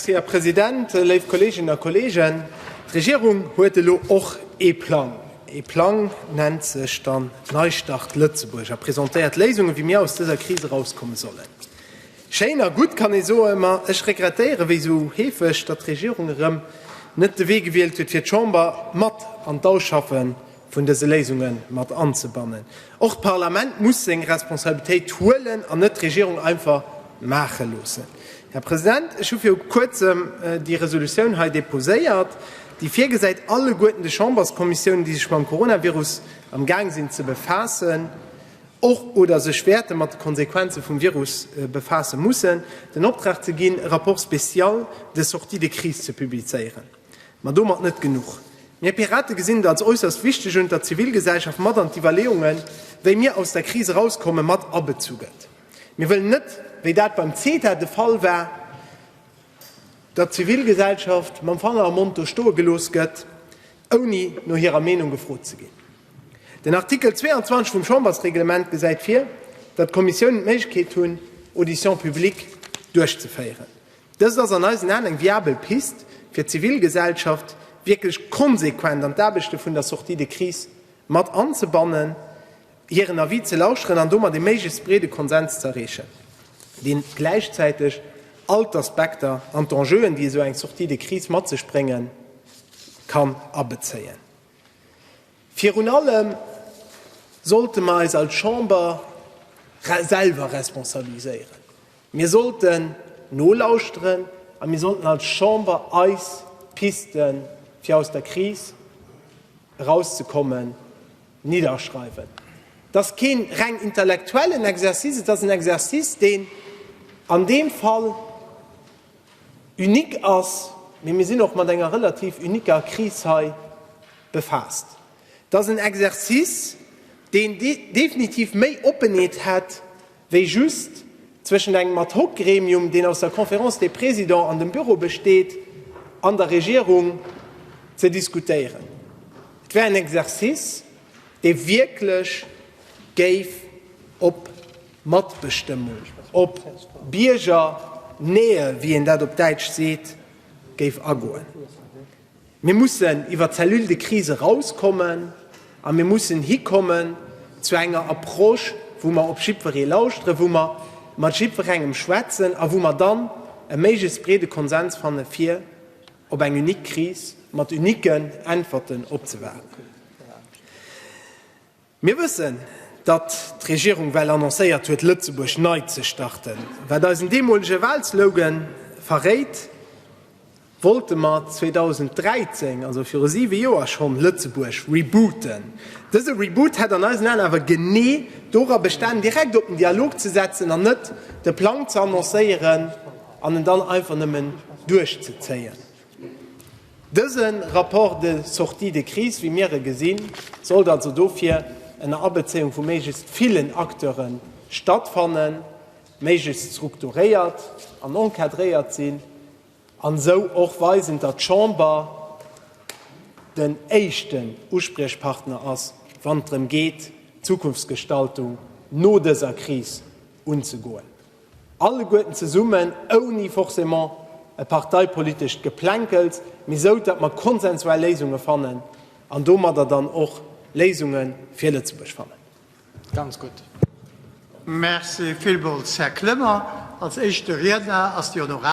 Här President, léif Kolleeginnen a Kolleegen, d'Regierung huet elo och ee Plang. Ee Plang nennt sech dann Neistart Lëtzebuerg a presentéiert Léisungen, wéi mir aus dëser Kris erauskomme sollen. Schéin a gutt, kann ee soen, ma ech regrettéieren, wéi esou heefeg, datt d'Regierung erëm net de Wee gewielt huet, fir d'Chamber mat an d'Ausschaffe vun dëse Léisunge mat anzebannen. Och d'Parlament muss seng Responsabilitéit huelen an net d'Regierung einfach maache loossen. Här President, ech hu viru Kuerzem déi Resolutioun hei deposéiert, déi virgesäit, alleguerten de Chamberskommissiounen, déi sech mam Coronavirus amgaang sinn ze befaassen och oder sech wäerte mat de Konsequenze vum Virus befaasse mussen, den Optrag ze ginn, e Rapport spécial de sortie de crise ze publizéieren. Ma domat net genuch. Mir Pirate gesinn et als äusserst wichteg un, datt d'Zivilgesellschaft mat an d'Iwwerleeungen, wéi mir aus der Kris erauskommen, mat abezu gëtt. Mir wëllen net, wéi dat beim CETA de Fall war, datt d'Zivilgesellschaft mam Fanger am Mond do stoe gelooss gëtt, ouni no hirer Meenung gefrot ze ginn. Den Artikel 22 vum Chambersreglement gesäit vir, datt d'Kommissionen d'Méiglechkeet hunn, Auditions publiques duerchzeféieren. Dëst ass an eisen Aen eng viabel Pist, fir d'Zivilgesellschaft wierklech konsequent an d'Aarbechte vun der Sortie de crise mat anzebannen, hiren Avis ze lauschteren an domat ee méiglechst breede Konsens ze erreechen, deen gläichzäiteg all d'Aspekter an d'Enjeuen, déi esou eng Sortie de crise mat sech bréngen kann, abezéien. Virun allem sollte mer eis als Chamber selwer responsabiliséieren. Mir sollten nolauschteren a mir sollten als Chamber eis Pisten, fir aus der Kris erauszekommen, nidderschreiwen. Et ass keen reng intellektuellen Exercice, et ass en Exercice, deen an deem Fall, Unique ass, mee mir sinn och mat enger relativ uniquer Kris hei befaasst. Dat ass en Exercice, deen definitiv méi Oppenheet hätt wéi just zwëschent engem Ad-hoc-Gremium, deen aus der Conférence des Présidents an dem Büro besteet, an der Regierung ze diskutéieren. Et wär en Exercice, dee wierklech géif op Matbestëmmung op Biergernähe, wéi een dat op Däitsch seet, géif agoen. Mir mussen iwwer d'Cellule de crise erauskommen a mir mussen hikommen zu enger Approche, wou mer op jiddweree lauschteren, wou mer mat jiddwerengem schwätzen a wou mer dann e méiglechst breede Konsens fanne fir op eng unique Kris mat uniquen Äntwerten opzewaarden. Mir wëssen, datt d'Regierung well annoncéiert huet, Lëtzebuerg nei ze starten. Wat eisen deemolege Walslogan verréit, wollte mer 2013, also viru siwe Joer, schonn Lëtzebuerg rebooten. Dëse Reboot hätt an eisen Aen awer genee dora bestanen, direkt op den Dialog ze setzen an net de Plang ze annoncéieren an en dann einfach nëmmen duerchzezéien. Dëse Rapport de sortie de crise, wéi mir e gesinn, sollt also dofir ënner Abezéiung vu méiglechst villen Acteure stattfannen, méiglechst strukturéiert an encadréiert sinn an esou och weisen, datt d'Chamber den éischten Uspriechpartner ass, wann et drëm geet, d'Zukunftsgestaltung no dëser Kris unzegoen. Alleguerten zesummen, ouni forcément e parteipolitescht Geplänkels, mee esou, datt mer konsensuell Léisunge fannen an domadder dann och Léisunge fir Lëtzebuerg fannen. Ganz gutt. Merci villmools, Här Clement. Als éischte Riedner ass déi Honorabel.